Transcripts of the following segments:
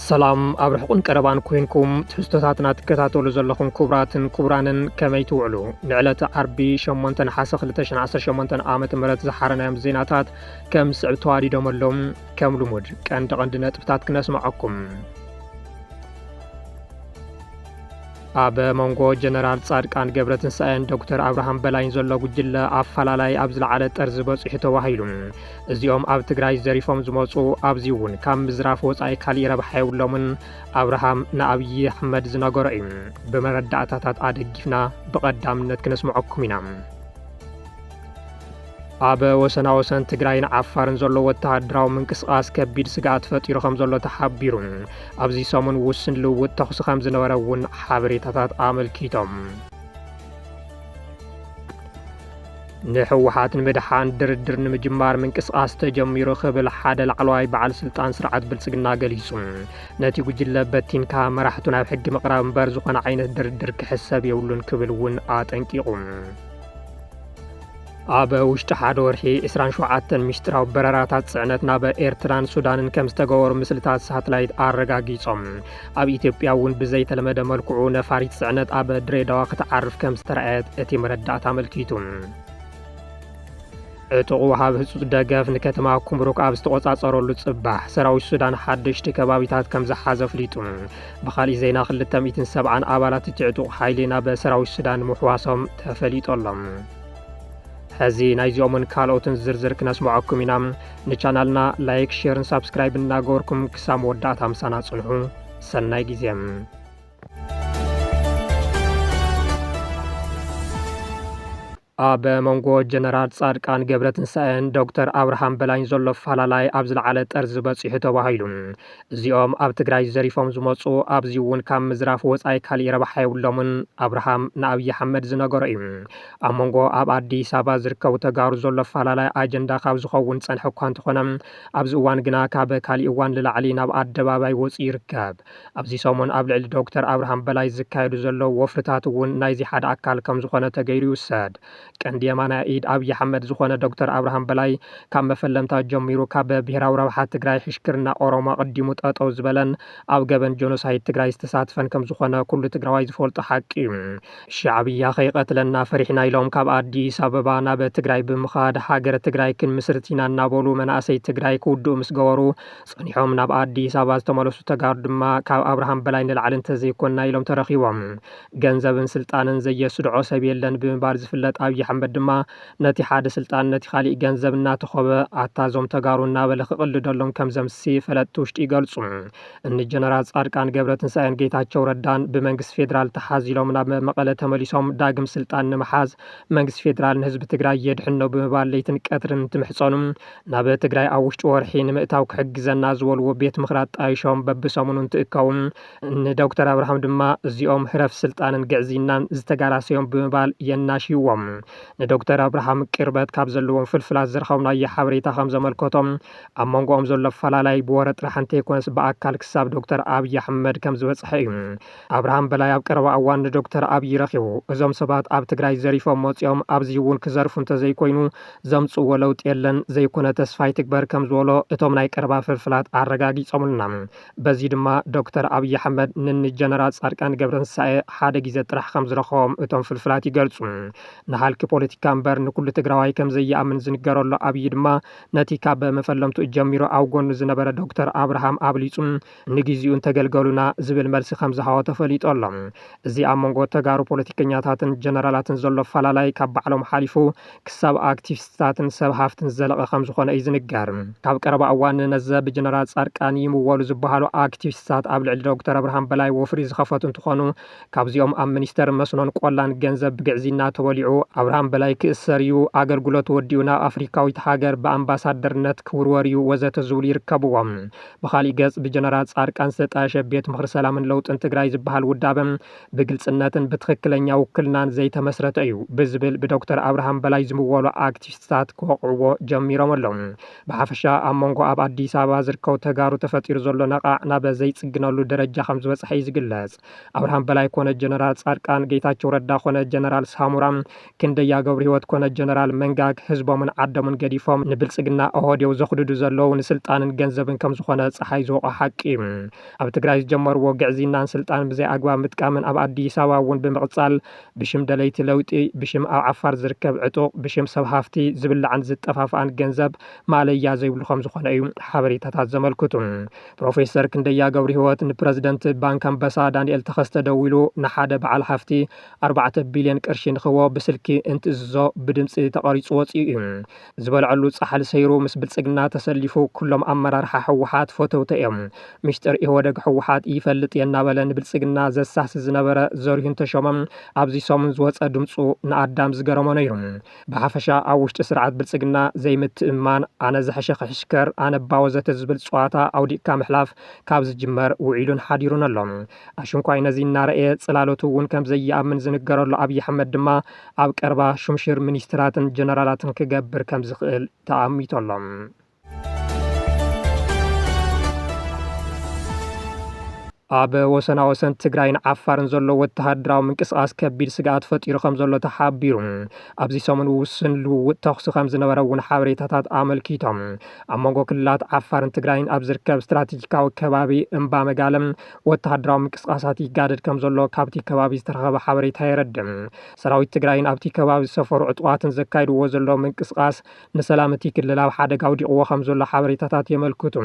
ሰላም ኣብ ርሕቁን ቀረባን ኮይንኩም ትሕዝቶታትና ትከታተሉ ዘለኹም ክቡራትን ክቡራንን ከመይ ትውዕሉ ንዕለተ ዓርቢ 8 ነሓሰ 218 ዓ ም ዝሓረናዮም ዜናታት ከም ዝስዕብ ተዋዲዶም ኣሎም ከም ልሙድ ቀንዲ ቀንዲ ነጥብታት ክነስምዐኩም ኣብ መንጎ ጀነራል ጻድቃን ገብረትንሳኤን ዶክተር ኣብርሃም በላይን ዘሎ ጉጅለ ኣፈላላይ ኣብ ዝለዓለ ጠርዚ በፂሑ ተባሂሉ እዚኦም ኣብ ትግራይ ዘሪፎም ዝመፁ ኣብዚ እውን ካብ ምዝራፍ ወፃኢ ካሊእ ረብሓ የብሎምን ኣብርሃም ንኣብዪ ኣሕመድ ዝነገሮ እዩ ብመረዳእታታት ኣደጊፍና ብቐዳምነት ክነስምዐኩም ኢና ኣብ ወሰናወሰን ትግራይን ዓፋርን ዘሎ ወተሃደራዊ ምንቅስቓስ ከቢድ ስግኣት ፈጢሩ ከም ዘሎ ተሓቢሩ። ኣብዚ ሰሙን ውስን ልውውጥ ተኹሲ ከም ዝነበረ እውን ሓበሬታታት ኣመልኪቶም። ንሕወሓት ንምድሓን ድርድር ንምጅማር ምንቅስቓስ ተጀሚሩ ክብል ሓደ ላዕለዋይ በዓል ስልጣን ስርዓት ብልጽግና ገሊጹ። ነቲ ጉጅለ በቲንካ መራሕቱ ናብ ሕጊ ምቕራብ እምበር ዝኾነ ዓይነት ድርድር ክሕሰብ የብሉን ክብል እውን ኣጠንቂቑ። ኣብ ውሽጢ ሓደ ወርሒ 27 ሚስጢራዊ በረራታት ጽዕነት ናብ ኤርትራን ሱዳንን ከም ዝተገበሩ ምስልታት ሳትላይት ኣረጋጊጾም። ኣብ ኢትዮጵያ እውን ብዘይተለመደ መልክዑ ነፋሪት ጽዕነት ኣብ ድሬዳዋ ክትዓርፍ ከም ዝተረኣየት እቲ መረዳእታ ኣመልኪቱ። ዕጡቕ ወሃብ ህጹጽ ደገፍ ንከተማ ኩምሩክ ኣብ ዝተቖጻጸረሉ ጽባሕ ሰራዊት ሱዳን ሓደሽቲ ከባቢታት ከም ዝሓዘ ኣፍሊጡ። ብኻሊእ ዜና ክልተ ሚእትን ሰብዓን ኣባላት እቲ ዕጡቕ ሓይሊ ናብ ሰራዊት ሱዳን ምሕዋሶም ተፈሊጡ ኣሎ። ሕዚ ናይዚኦምን ካልኦትን ዝርዝር ክነስምዐኩም ኢና። ንቻናልና ላይክ፣ ሼርን ሳብስክራይብን እናገበርኩም ክሳብ መወዳእታ ምሳና ጽንሑ። ሰናይ ግዜ ኣበ መንጎ ጀነራል ፃድቃን ገብረትንሳኤን ዶክተር ኣብርሃም በላይን ዘሎ ኣፈላላይ ኣብ ዝለዓለ ጠርዚ በፂሑ ተባሂሉ። እዚኦም ኣብ ትግራይ ዘሪፎም ዝመፁ ኣብዚ እውን ካብ ምዝራፍ ወፃኢ ካሊእ ረብሓ የብሎምን። ኣብርሃም ንኣብይ ኣሕመድ ዝነገሮ እዩ። ኣብ መንጎ ኣብ ኣዲስ ኣበባ ዝርከቡ ተጋሩ ዘሎ ኣፈላላይ ኣጀንዳ ካብ ዝኸውን ዝፀንሐ እኳ እንተኾነ ኣብዚ እዋን ግና ካብ ካሊእ እዋን ልላዕሊ ናብ ኣደባባይ ወፂኡ ይርከብ። ኣብዚ ሰሙን ኣብ ልዕሊ ዶክተር ኣብርሃም በላይ ዝካየዱ ዘለዉ ወፍርታት እውን ናይዚ ሓደ ኣካል ከምዝኾነ ተገይሩ ይውሰድ። ቀንዲ የማናይ ኢድ ኣብይ ኣሕመድ ዝኾነ ዶክተር ኣብርሃም በላይ ካብ መፈለምታ ጀሚሩ ካብ ብሄራዊ ረብሓ ትግራይ ሕሽክርና ኦሮሞ ኣቐዲሙ ጠጠው ዝበለን ኣብ ገበን ጆኖሳይድ ትግራይ ዝተሳትፈን ከምዝኾነ ኩሉ ትግራዋይ ዝፈልጦ ሓቂ እዩ። ሻዕብያ ከይቐትለና ፈሪሕና ኢሎም ካብ ኣዲስ ኣበባ ናብ ትግራይ ብምኻድ ሃገረ ትግራይ ክንምስርት ኢና እናበሉ መናእሰይ ትግራይ ክውድኡ ምስገበሩ ጸኒሖም ናብ ኣዲስ ኣበባ ዝተመለሱ ተጋሩ ድማ ካብ ኣብርሃም በላይ ንላዕሊ እንተዘይኮንና ኢሎም ተረኺቦም። ገንዘብን ስልጣንን ዘየስድዖ ሰብ የለን ብምባል ዝፍለጥ ኣብይ ኣሕመድ ድማ ነቲ ሓደ ስልጣን ነቲ ካሊእ ገንዘብ እናተኾበ ኣታ እዞም ተጋሩ እናበለ ክቕልደሎም ከምዘምሲ ፈለጥቲ ውሽጢ ይገልጹ። እኒ ጀነራል ጻድቃን ገብረትንሳኤን ጌታቸው ረዳን ብመንግስቲ ፌደራል ተሓዚሎም ናብ መቐለ ተመሊሶም ዳግም ስልጣን ንምሓዝ መንግስቲ ፌደራል ንህዝቢ ትግራይ የድሕኖ ብምባል ለይትን ቀትርን እንትምሕጸኑ ናብ ትግራይ ኣብ ውሽጢ ወርሒ ንምእታው ክሕግዘና ዝበልዎ ቤት ምኽሪ ኣጣይሾም በብሰሙኑ እንትእከቡ ንዶክተር ኣብርሃም ድማ እዚኦም ህረፍ ስልጣንን ግዕዝይናን ዝተጋላሰዮም ብምባል የናሽይዎም። ንዶክተር ኣብርሃም ቅርበት ካብ ዘለዎም ፍልፍላት ዝረኸብናዮ ሓበሬታ ከም ዘመልከቶ ኣብ መንጎኦም ዘሎ ኣፈላላይ ብወረ ጥራሕ እንተይኮነስ ብኣካል ክሳብ ዶክተር ኣብይ ኣሕመድ ከም ዝበፅሐ እዩ። ኣብርሃም በላይ ኣብ ቀረባ እዋን ንዶክተር ኣብይ ረኺቡ እዞም ሰባት ኣብ ትግራይ ዘሪፎም መፂኦም ኣብዚ እውን ክዘርፉ እንተዘይኮይኑ ዘምፅእዎ ለውጢ የለን ዘይኮነ ተስፋ ይትግበር ከምዝበሎ እቶም ናይ ቀረባ ፍልፍላት ኣረጋጊፆምልና። በዚ ድማ ዶክተር ኣብይ ኣሕመድ ንኒ ጀነራል ፃድቃን ገብረትንሳኤ ሓደ ግዜ ጥራሕ ከምዝረኸቦም እቶም ፍልፍላት ይገልፁ። ንሃልኪ ፖለቲካ እምበር ንኩሉ ትግራዋይ ከምዘይኣምን ዝንገረሉ ኣብይ ድማ ነቲ ካብ መፈለምትኡ ጀሚሩ ኣብ ጎኑ ዝነበረ ዶክተር ኣብርሃም ኣብሊፁ ንግዚኡ እንተገልገሉና ዝብል መልሲ ከምዝሃቦ ተፈሊጡ ኣሎ። እዚ ኣብ መንጎ ተጋሩ ፖለቲከኛታትን ጀነራላትን ዘሎ ኣፈላላይ ካብ ባዕሎም ሓሊፉ ክሳብ ኣክቲቪስትታትን ሰብ ሃፍትን ዝዘለቐ ከምዝኾነ እዩ ዝንገር። ካብ ቀረባ እዋን ነዘ ብጀነራል ፃድቃን ይምወሉ ዝበሃሉ ኣክቲቪስትታት ኣብ ልዕሊ ዶክተር ኣብርሃም በላይ ወፍሪ ዝኸፈቱ እንትኾኑ ካብዚኦም ኣብ ሚኒስቴር መስኖን ቆላን ገንዘብ ብግዕዝይና ተበሊዑ ኣብርሃም በላይ ክእሰር እዩ፣ ኣገልግሎት ወዲኡ ናብ ኣፍሪካዊት ሃገር ብኣምባሳደርነት ክውርወር እዩ ወዘተ ዝብሉ ይርከብዎም። ብኻሊእ ገፅ ብጀነራል ፃድቃን ዝተጣየሸ ቤት ምኽሪ ሰላምን ለውጥን ትግራይ ዝበሃል ውዳበ ብግልፅነትን ብትኽክለኛ ውክልናን ዘይተመስረተ እዩ ብዝብል ብዶክተር ኣብርሃም በላይ ዝምወሉ ኣክቲቪስትታት ክወቕዕዎ ጀሚሮም ኣለዉ። ብሓፈሻ ኣብ መንጎ ኣብ ኣዲስ ኣበባ ዝርከቡ ተጋሩ ተፈጢሩ ዘሎ ነቓዕ ናብ ዘይፅግነሉ ደረጃ ከምዝበፅሐ እዩ ዝግለፅ። ኣብርሃም በላይ ኮነ ጀነራል ጻድቃን፣ ጌታቸው ረዳ ኮነ ጀነራል ሳሙራ፣ ክንደያ ገብሩ ህይወት ኮነ ጀነራል መንጋግ ህዝቦምን ዓደሙን ገዲፎም ንብልጽግና ኦሆዴው ዘኹድዱ ዘለዉ ንስልጣንን ገንዘብን ከም ዝኾነ ጸሓይ ዝወቆ ሓቂ እዩ። ኣብ ትግራይ ዝጀመርዎ ግዕዝይናን ስልጣን ብዘይ ኣግባብ ምጥቃምን ኣብ ኣዲስ ኣበባ እውን ብምቕጻል ብሽም ደለይቲ ለውጢ፣ ብሽም ኣብ ዓፋር ዝርከብ ዕጡቕ፣ ብሽም ሰብ ሃፍቲ ዝብላዕን ዝጠፋፍኣን ገንዘብ ማእለያ ዘይብሉ ከም ዝኾነ እዩ ሓበሬታታት ዘመልክቱ። ፕሮፌሰር ክንደያ ገብርሂወት ንፕረዚደንት ባንክ ኣንበሳ ዳንኤል ተኸስተ ደዊሉ ንሓደ በዓል ሃፍቲ ኣርባዕተ ቢልዮን ቅርሺ ንክህቦ ብስልኪ እንትእዝዞ ብድምፂ ተቐሪፁ ወፂኡ እዩ። ዝበልዐሉ ፃሕሊ ሰይሩ ምስ ብልፅግና ተሰሊፉ ኩሎም ኣመራርሓ ህወሓት ፈተውተ እዮም። ሚስጥር ኢህወደግ ህወሓት ይፈልጥ እየ እናበለ ንብልፅግና ዘሳሲ ዝነበረ ዘሪሁን ተሾመ ኣብዚ ሰሙን ዝወፀ ድምፁ ንኣዳም ዝገረሞ ነይሩ። ብሓፈሻ ኣብ ውሽጢ ስርዓት ብልፅግና ዘይምትእምማን፣ ኣነ ዝሐሸ ክሕሽከር፣ ኣነባ ወዘተ ዝብል ፅዋታ ኣውዲቕካ ምሕላፍ ካብ ዝጅመር ውዒሉን ሓዲሩን ኣሎ። ኣሽንኳይ ነዚ እናረኣየ ፅላሎቱ እውን ከምዘይኣምን ዝንገረሉ ኣብይ ኣሕመድ ድማ ኣብ ቀረባ ሹምሽር ሚኒስትራትን ጀነራላትን ክገብር ከምዝኽእል ተኣሚቱ ኣሎ። ኣብ ወሰና ወሰን ትግራይን ዓፋርን ዘሎ ወተሃደራዊ ምንቅስቓስ ከቢድ ስግኣት ፈጢሩ ከም ዘሎ ተሓቢሩ ኣብዚ ሰሙን ውስን ልውውጥ ተኽሲ ከም ዝነበረ እውን ሓበሬታታት ኣመልኪቶም ኣብ መንጎ ክልላት ዓፋርን ትግራይን ኣብ ዝርከብ ስትራቴጂካዊ ከባቢ እምባ መጋለም ወተሃደራዊ ምንቅስቓሳት ይጋደድ ከም ዘሎ ካብቲ ከባቢ ዝተረኸበ ሓበሬታ የረድእ ሰራዊት ትግራይን ኣብቲ ከባቢ ዝሰፈሩ ዕጡቓትን ዘካይድዎ ዘሎ ምንቅስቓስ ንሰላም እቲ ክልል ኣብ ሓደጋ ኣውዲቕዎ ከም ዘሎ ሓበሬታታት የመልክቱ።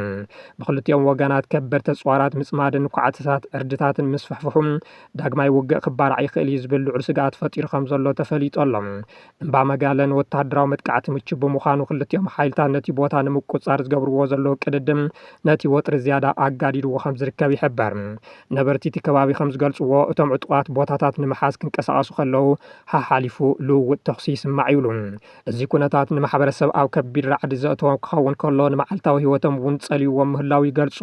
ብክልቲኦም ወገናት ከበድቲ ኣጽዋራት ምጽማድን ኳዕቲታት ዕርድታትን ምስፍሕፍሑ ዳግማይ ውግእ ክባራዕ ይኽእል እዩ ዝብል ልዑል ስግኣት ፈጢሩ ከም ዘሎ ተፈሊጡ ኣሎ። እምባ መጋለ ንወተሃደራዊ መጥቃዕቲ ምቹው ብምዃኑ ክልቲኦም ሓይልታት ነቲ ቦታ ንምቁጽጻር ዝገብርዎ ዘለዉ ቅድድም ነቲ ወጥሪ ዝያዳ ኣጋዲድዎ ከም ዝርከብ ይሕበር። ነበርቲ እቲ ከባቢ ከም ዝገልጽዎ እቶም ዕጡቓት ቦታታት ንምሓዝ ክንቀሳቐሱ ከለዉ ሓሓሊፉ ልውውጥ ተኹሲ ይስማዕ ይብሉ። እዚ ኩነታት ንማሕበረሰብ ኣብ ከቢድ ራዕዲ ዘእተዎም ክኸውን ከሎ ንመዓልታዊ ህይወቶም እውን ጸልይዎም ምህላው ይገልጹ።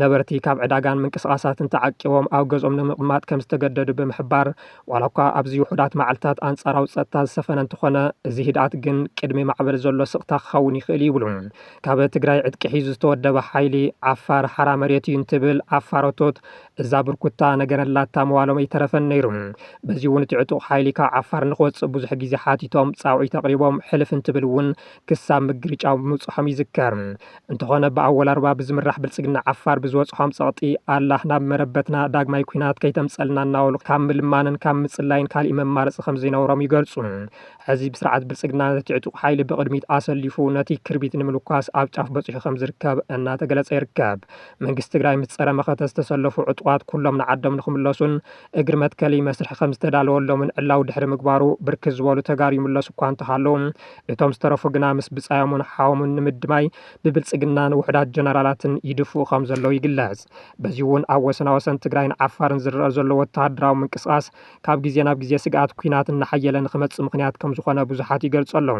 ነበርቲ ካብ ዕዳጋን ምንቅስቓሳትን ተዓቂቦም ኣብ ገዝኦም ንምቕማጥ ከም ዝተገደዱ ብምሕባር ዋላ እኳ ኣብዚ ውሑዳት መዓልትታት ኣንጻራዊ ጸጥታ ዝሰፈነ እንተኾነ እዚ ህድኣት ግን ቅድሚ ማዕበል ዘሎ ስቕታ ክኸውን ይኽእል እዩ ይብሉ። ካብ ትግራይ ዕጥቂ ሒዙ ዝተወደበ ሓይሊ ዓፋር ሓራ መሬት እዩ እንትብል ዓፋሮቶት እዛ ብርኩታ ነገረላታ መዋሎም ኣይተረፈን ነይሩ። በዚ እውን እቲ ዕጡቕ ሓይሊ ካብ ዓፋር ንክወፅእ ብዙሕ ግዜ ሓቲቶም ፃውዒት ኣቕሪቦም ሕልፍ እንትብል እውን ክሳብ ምግርጫው ምብፅሖም ይዝከር። እንተኾነ ብኣወል ኣርባ ብዝምራሕ ብልፅግና ዓፋር ብዝበፅሖም ፀቕጢ ኣላህ ናብ መረበትና ዳግማይ ኲናት ከይተምፀልና እናበሉ ካብ ምልማንን ካብ ምፅላይን ካሊእ መማረፂ ከምዘይነበሮም ይገልፁ። ሕዚ ስርዓት ብልፅግና ነቲ ዕጡቕ ሓይሊ ብቕድሚት ኣሰሊፉ ነቲ ክርቢት ንምልኳስ ኣብ ጫፍ በፂሑ ከምዝርከብ እናተገለፀ ይርከብ። መንግስቲ ትግራይ ምስ ፀረ መኸተ ዝተሰለፉ ዕጡቓት ኩሎም ንዓዶም ንክምለሱን እግሪ መትከሊ መስርሒ ከምዝተዳለወሎምን ዕላዊ ድሕሪ ምግባሩ ብርክት ዝበሉ ተጋሩ ይምለሱ እኳ እንተሃለዉ እቶም ዝተረፉ ግና ምስ ብፃዮምን ሓዎምን ንምድማይ ብብልፅግናን ውሑዳት ጀነራላትን ይድፍኡ ከምዘለዉ ይግለፅ። በዚ እውን ኣብ ወሰናወሰን ትግራይን ዓፋርን ዝረኣ ዘሎ ወተሃደራዊ ምንቅስቓስ ካብ ግዜ ናብ ግዜ ስግኣት ኲናት እናሓየለ ንክመፅእ ምኽንያት ከምዝኾነ ብዙሓት ይገልፁ ኣለዉ።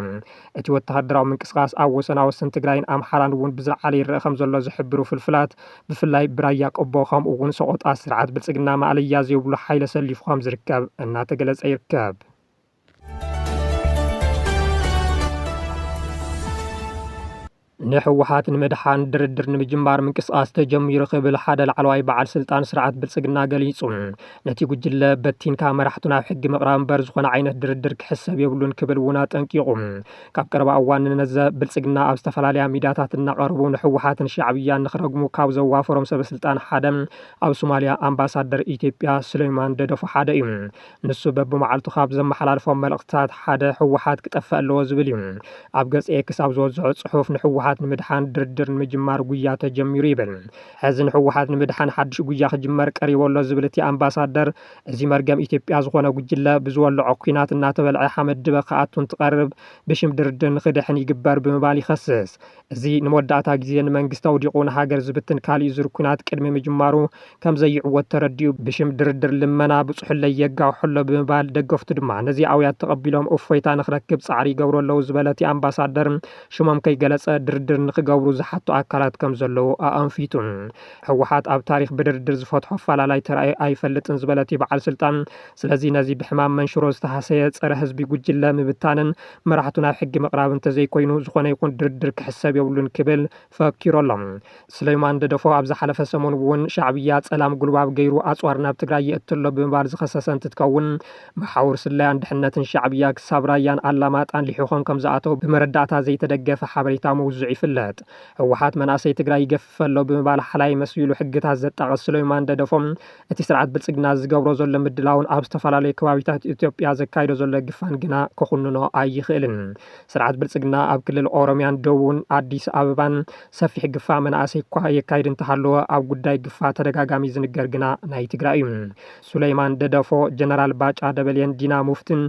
እቲ ወተሃደራዊ ምንቅስቓስ ኣብ ወሰናወሰን ትግራይን ኣምሓራን እውን ብዝለዓለ ይረኣ ከምዘሎ ዝሕብሩ ፍልፍላት፣ ብፍላይ ብራያ ቆቦ ከምኡ እውን ሰቖጣ ስርዓት ብልፅግና ማእለያ ዘይብሉ ሓይሊ ኣሰሊፉ ከምዝርከብ እናተገለፀ ይርከብ። ንህወሓት ንምድሓን ድርድር ንምጅማር ምንቅስቓስ ተጀሚሩ ክብል ሓደ ላዕለዋይ በዓል ስልጣን ስርዓት ብልፅግና ገሊፁ። ነቲ ጉጅለ በቲንካ መራሕቱ ናብ ሕጊ ምቕራብ እምበር ዝኾነ ዓይነት ድርድር ክሕሰብ የብሉን ክብል እውን ኣጠንቂቑ። ካብ ቀረባ እዋን ንነዘ ብልፅግና ኣብ ዝተፈላለያ ሚድያታት እናቐረቡ ንህወሓትን ሻዕብያን ንክረግሙ ካብ ዘዋፈሮም ሰበስልጣን ሓደ ኣብ ሶማሊያ ኣምባሳደር ኢትዮጵያ ሱሌይማን ደደፎ ሓደ እዩ። ንሱ በብመዓልቱ ካብ ዘመሓላልፎም መልእኽትታት ሓደ ህወሓት ክጠፍእ ኣለዎ ዝብል እዩ። ኣብ ገጽ ኤክስ ኣብ ዝወዝሖ ጽሑፍ ንህወሓት ንምድሓን ድርድር ንምጅማር ጉያ ተጀሚሩ ይብል። ሕዚ ንህወሓት ንምድሓን ሓድሽ ጉያ ክጅመር ቀሪቡ ኣሎ ዝብል እቲ ኣምባሳደር፣ እዚ መርገም ኢትዮጵያ ዝኾነ ጉጅለ ብዝወልዖ ኲናት እናተበልዐ ሓመድ ድበ ክኣቱ እንትቐርብ ብሽም ድርድር ንክድሕን ይግበር ብምባል ይኸስስ። እዚ ንመወዳእታ ግዜ ንመንግስቲ ኣውዲቑ ንሃገር ዝብትን ካሊእ ዙር ኲናት ቅድሚ ምጅማሩ ከምዘይዕወት ተረዲኡ ብሽም ድርድር ልመና ብፅሑለይ የጋውሖ ኣሎ ብምባል ደገፍቱ ድማ ነዚ ኣውያት ተቐቢሎም እፎይታ ንክረክብ ፃዕሪ ይገብሩ ኣለው ዝበለ እቲ ኣምባሳደር ሽሞም ከይገለፀ ድርድር ንክገብሩ ዝሓቱ ኣካላት ከምዘለው ኣኣንፊቱ። ህወሓት ኣብ ታሪኽ ብድርድር ዝፈትሖ ኣፈላላይ ተራእዩ ኣይፈልጥን ዝበለ እቲ በዓል ስልጣን ስለዚ ነዚ ብሕማም መንሽሮ ዝተሃሰየ ፀረ ህዝቢ ጉጅለ ምብታንን መራሕቱ ናብ ሕጊ ምቕራብ እንተዘይኮይኑ ዝኾነ ይኹን ድርድር ክሕሰብ የብሉን ክብል ፈኪሩ ኣሎ። ስለይማን ደደፎ ኣብ ዝሓለፈ ሰሙን እውን ሻዕብያ ፀላም ጉልባብ ገይሩ ኣፅዋር ናብ ትግራይ የእቲ ኣሎ ብምባል ዝኸሰሰ እንትትከውን መሓውር ስለያን ድሕነትን ሻዕብያ ክሳብ ራያን ኣላማጣን ሊሒኾም ከምዝኣተው ብመረዳእታ ዘይተደገፈ ሓበሬታ ምውዝዑ ይፍለጥ። ህወሓት መናእሰይ ትግራይ ይገፍፍ ኣሎ ብምባል ሓላይ መሲሉ ሕግታት ዘጣቕስ ስለይማን ደደፎ እቲ ስርዓት ብልፅግና ዝገብሮ ዘሎ ምድላውን ኣብ ዝተፈላለዩ ከባቢታት ኢትዮጵያ ዘካይዶ ዘሎ ግፋን ግና ክኹንኖ ኣይኽእልን። ስርዓት ብልፅግና ኣብ ክልል ኦሮሚያን ደቡብን ኣዲስ ኣበባን ሰፊሕ ግፋ መናእሰይ እኳ የካይድ እንተሃለወ ኣብ ጉዳይ ግፋ ተደጋጋሚ ዝንገር ግና ናይ ትግራይ እዩ። ሱለይማን ደደፎ፣ ጀነራል ባጫ ደበሌን ዲና ሙፍቲን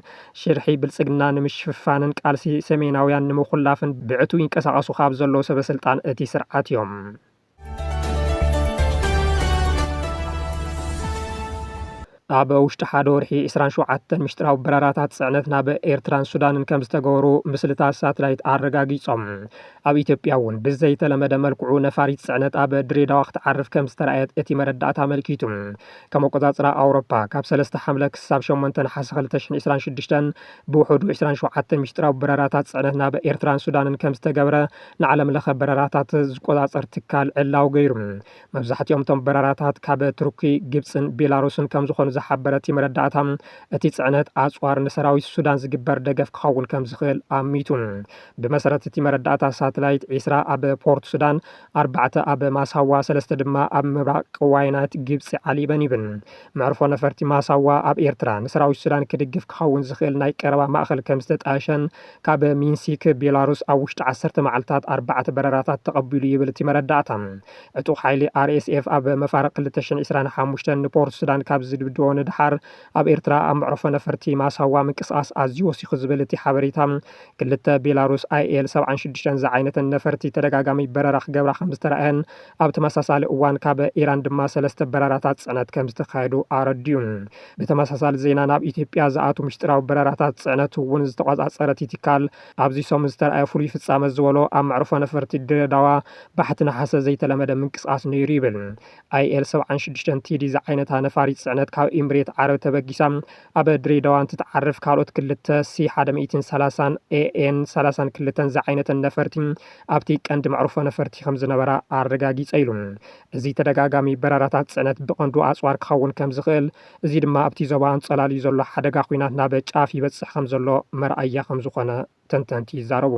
ሽርሒ ብልፅግና ንምሽፍፋንን ቃልሲ ሰሜናውያን ንምኹላፍን ብዕቱብ ይንቀሳቐሱ ካብ ዘለዉ ሰበስልጣን እቲ ስርዓት እዮም። ኣብ ውሽጢ ሓደ ወርሒ 27 ምሽጥራዊ በረራታት ፅዕነት ናብ ኤርትራን ሱዳንን ከም ዝተገበሩ ምስልታት ሳትላይት ኣረጋጊፆም። ኣብ ኢትዮጵያ እውን ብዘይተለመደ መልክዑ ነፋሪት ፅዕነት ኣብ ድሬዳዋ ክትዓርፍ ከም ዝተረኣየት እቲ መረዳእታ ኣመልኪቱ። ከም ኣቆፃፅራ ኣውሮፓ ካብ 3 ሓምለ ክሳብ 8 ነሓሰ 2026 ብውሕዱ 27 ምሽጥራዊ በረራታት ፅዕነት ናብ ኤርትራን ሱዳንን ከም ዝተገብረ ንዓለምለኸ በረራታት ዝቆፃፀር ትካል ዕላዊ ገይሩ። መብዛሕቲኦም እቶም በረራታት ካብ ቱርኪ፣ ግብፅን ቤላሩስን ከምዝኾኑ ዝሓበረ እቲ መረዳእታ፣ እቲ ፅዕነት ኣፅዋር ንሰራዊት ሱዳን ዝግበር ደገፍ ክኸውን ከምዝኽእል ኣሚቱ። ብመሰረት እቲ መረዳእታ ሳትላይት ዒስራ ኣብ ፖርት ሱዳን፣ ኣርባዕተ ኣብ ማሳዋ፣ ሰለስተ ድማ ኣብ ምብራቕ ቀዋይናት ግብፂ ዓሊበን ይብል። መዕርፎ ነፈርቲ ማሳዋ ኣብ ኤርትራ፣ ንሰራዊት ሱዳን ክድግፍ ክኸውን ዝኽእል ናይ ቀረባ ማእኸል ከምዝተጣየሸን፣ ካብ ሚንሲክ ቤላሩስ ኣብ ውሽጢ ዓሰርተ መዓልታት ኣርባዕተ በረራታት ተቐቢሉ ይብል እቲ መረዳእታ። ዕጡቕ ሓይሊ RSF ኣብ መፋርቕ ክልተ ሽሕን ዕስራን ሓሙሽተን ንፖርት ሱዳን ካብ ዝድብድቦ ንደሓር ኣብ ኤርትራ ኣብ መዕርፎ ነፈርቲ ማሳዋ ምንቅስቓስ ኣዝዩ ወሲኹ ዝብል እቲ ሓበሬታ ክልተ ቤላሩስ IL ሰብዓን ሽዱሽተን ዝዓይነተን ነፈርቲ ተደጋጋሚ በረራ ክገብራ ከምዝተራእየን ኣብ ተመሳሳሊ እዋን ካብ ኢራን ድማ ሰለስተ በረራታት ጽዕነት ከምዝተኻየዱ ኣረዲኡ። ብተመሳሳሊ ዜና ናብ ኢትዮጵያ ዝኣቱ ምሽጢራዊ በረራታት ፅዕነት እውን ዝተቆፃፀረ እቲ ትካል ኣብዚ ሰሙን ዝተርኣየ ፍሉይ ፍፃመ ዝበሎ ኣብ መዕርፎ ነፈርቲ ድሬዳዋ ባሕቲ ነሓሰ ዘይተለመደ ምንቅስቓስ ነይሩ ይብል። ኣይኤል ሰብዓን ሽዱሽተን ቴዲ ዝዓይነታ ነፋሪት ፅዕነት ካብ ኢምሬት ዓረብ ተበጊሳ ኣብ ድሬዳዋ እንትትዓርፍ ካልኦት ክልተ ሲ ሓደ ሚእትን ሰላሳን ኤኤን ሰላሳን ክልተን ዝዓይነተን ነፈርቲ ኣብቲ ቀንዲ መዕርፎ ነፈርቲ ከምዝነበራ ኣረጋጊፀ ኢሉ። እዚ ተደጋጋሚ በረራታት ጽዕነት ብቐንዱ ኣጽዋር ክኸውን ከም ዝኽእል፣ እዚ ድማ ኣብቲ ዞባ ኣንጸላልዩ ዘሎ ሓደጋ ኲናት ናብ ጫፍ ይበጽሕ ከም ዘሎ መርኣያ ከም ዝዀነ ተንተንቲ ይዛረቡ።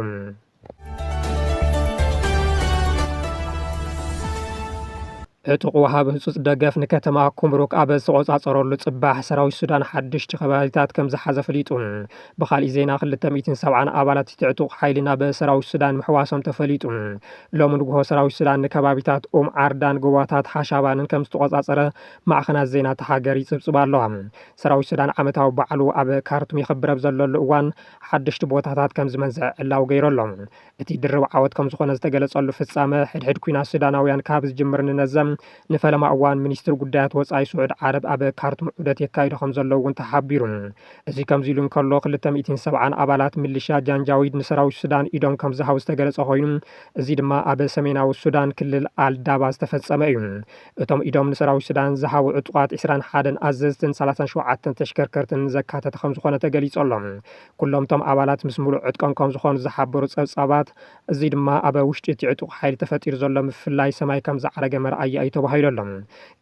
ዕጡቕ ወሃብ ህጹጽ ደገፍ ንከተማ ኩምሩክ ኣብ ዝተቖጻጸረሉ ጽባሕ ሰራዊት ሱዳን ሓድሽቲ ከባቢታት ከም ዝሓዘ ፈሊጡ። ብኻሊእ ዜና ክልተ ሚእትን ሰብዓን ኣባላት እቲ ዕጡቕ ሓይሊ ናብ ሰራዊት ሱዳን ምሕዋሶም ተፈሊጡ። ሎሚ ንጉሆ ሰራዊት ሱዳን ንከባቢታት ኡም ዓርዳን ጎቦታት ሓሻባንን ከም ዝተቖጻጸረ ማዕኸናት ዜና እታ ሃገር ይጽብጽባ ኣለዋ። ሰራዊት ሱዳን ዓመታዊ በዓሉ ኣብ ካርቱም የኽብር ኣብ ዘለሉ እዋን ሓደሽቲ ቦታታት ከም ዝመንዝዐ ዕላዊ ገይሩ ኣሎ። እቲ ድርብ ዓወት ከምዝኾነ ዝተገለፀሉ ፍፃመ ሕድሕድ ኲናት ሱዳናውያን ካብ ዝጅምር ንነዘ ንፈለማ እዋን ሚኒስትሪ ጉዳያት ወፃኢ ስዑድ ዓረብ ኣብ ካርቱም ዑደት የካይዱ ከምዘለዉ እውን ተሓቢሩ። እዚ ከምዚሉ እንከሎ ክልተ ሚእትን ሰብዓን ኣባላት ሚሊሻ ጃንጃዊድ ንሰራዊት ሱዳን ኢዶም ከምዝሃቡ ዝተገለፀ ኮይኑ እዚ ድማ ኣብ ሰሜናዊ ሱዳን ክልል ኣል ዳባ ዝተፈፀመ እዩ። እቶም ኢዶም ንሰራዊት ሱዳን ዝሃቡ ዕጡቓት ዕስራን ሓደን ኣዘዝትን ሰላሳን ሸውዓተን ተሽከርከርትን ዘካተተ ከምዝኾነ ተገሊፁ ኣሎ። ኩሎም'ቶም ኣባላት ምስ ምሉእ ዕጥቆም ከምዝኾኑ ዝሓበሩ ጸብጻባት፣ እዚ ድማ ኣብ ውሽጢ እቲ ዕጡቕ ሓይሊ ተፈጢሩ ዘሎ ምፍልላይ ሰማይ ከምዝዓረገ መርኣያ እዩ ተባሂሉ ኣሎ።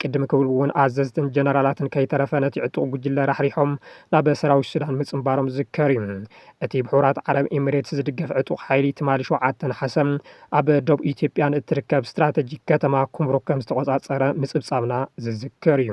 ቅድም ክብል'ውን ኣዘዝትን ጀነራላትን ከይተረፈ ነቲ ዕጡቕ ጉጅለ ራሕሪሖም ናብ ሰራዊት ሱዳን ምጽንባሮም ዝዝከር እዩ። እቲ ብሕቡራት ዓረብ ኢሚሬትስ ዝድገፍ ዕጡቕ ሓይሊ ትማሊ ሸውዓተ ነሓሰ ኣብ ዶብ ኢትዮጵያ ንእትርከብ ስትራተጂክ ከተማ ኩምሩክ ከምዝተቖጻጸረ ምጽብጻብና ዝዝከር እዩ።